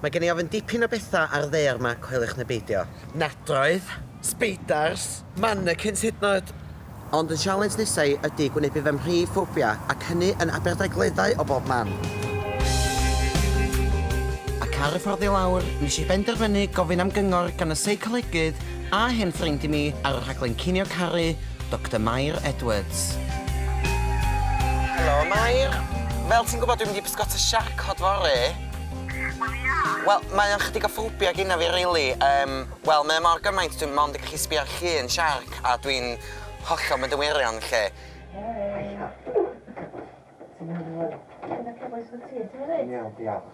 Mae gen i ofyn dipyn o bethau ar ddaear ma, coeliwch neu beidio. Nadroedd, sbeidars, mannequins hyd yn oed! Ond yn sialens nesa i ydi gwynebu fy mhrif ffobia, ac hynny yn Aberdaugleddau o bob man! Ac ar y ffordd i lawr, nes i benderfynu gofyn am gyngor gan y seicolegydd A hen ffrind i mi ar y rhaglen Cinio Caru, Doctor Mair Edwards. Helo Mair. Fel ti'n gwybod dwi'n mynd i bysgota siarc cod fory. Wel ia. Wel mae o'n chydig o ffobia gynna fi rili yym wel mae o mor gymaint dwi'n mond yn gallu sbio ar llun siarc a dwi'n hollol mynd yn wirion 'lly. Ti'n iawn Elin? Dwi'n oce bois wyt ti? Ti'n iawn? Dwi'n iawn diolch.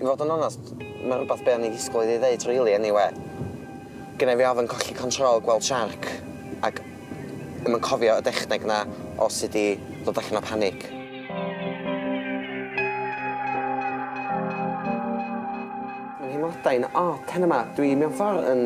I fod yn onast, mae'n rhywbeth be o'n i'n disgwyl iddi ddeud rili eniwe. Gynna i fi ofn colli control, gweld siarc, ac ddim yn cofio y dechneg 'na o sut i ddod allan o panic. Mae nheimladau'n od heno 'ma. Dwi mewn ffordd yn,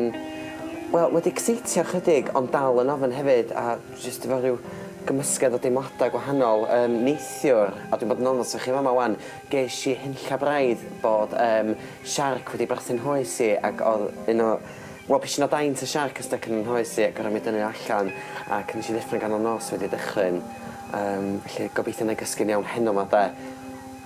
wel, wedi ecseitio ychydig ond dal yn ofn hefyd a jyst efo rhyw gymysgedd o deimladau gwahanol. Yym, neithiwr, a dwi'n bod yn onast efo chi yn fama 'wan, Gesh i hunlla braidd bod yym siarc wedi brasu'n nghoes i ac odd un o wel pishyn o daint y siarc yn styc yn 'y nghoes i ac gor'o' mi dynnu o allan ac nesh i ddeffro yn ganol nos wedi dychryn yym felly gobeithio 'nai gysgu'n iawn heno 'ma 'de.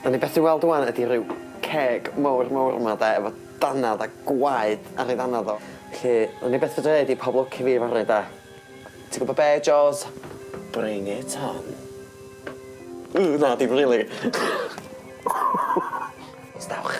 Be' ni byth 'di weld ŵan ydi ryw ceg mowr mowr 'ma 'de efo dannedd a gwaed ar ei ddannedd o felly 'wn i byth fedra ddeud i pob lwc i fi fory 'de. Ti'n gwybod be, Joes? Bring it on. Ww, na, dim rili. Os dawch.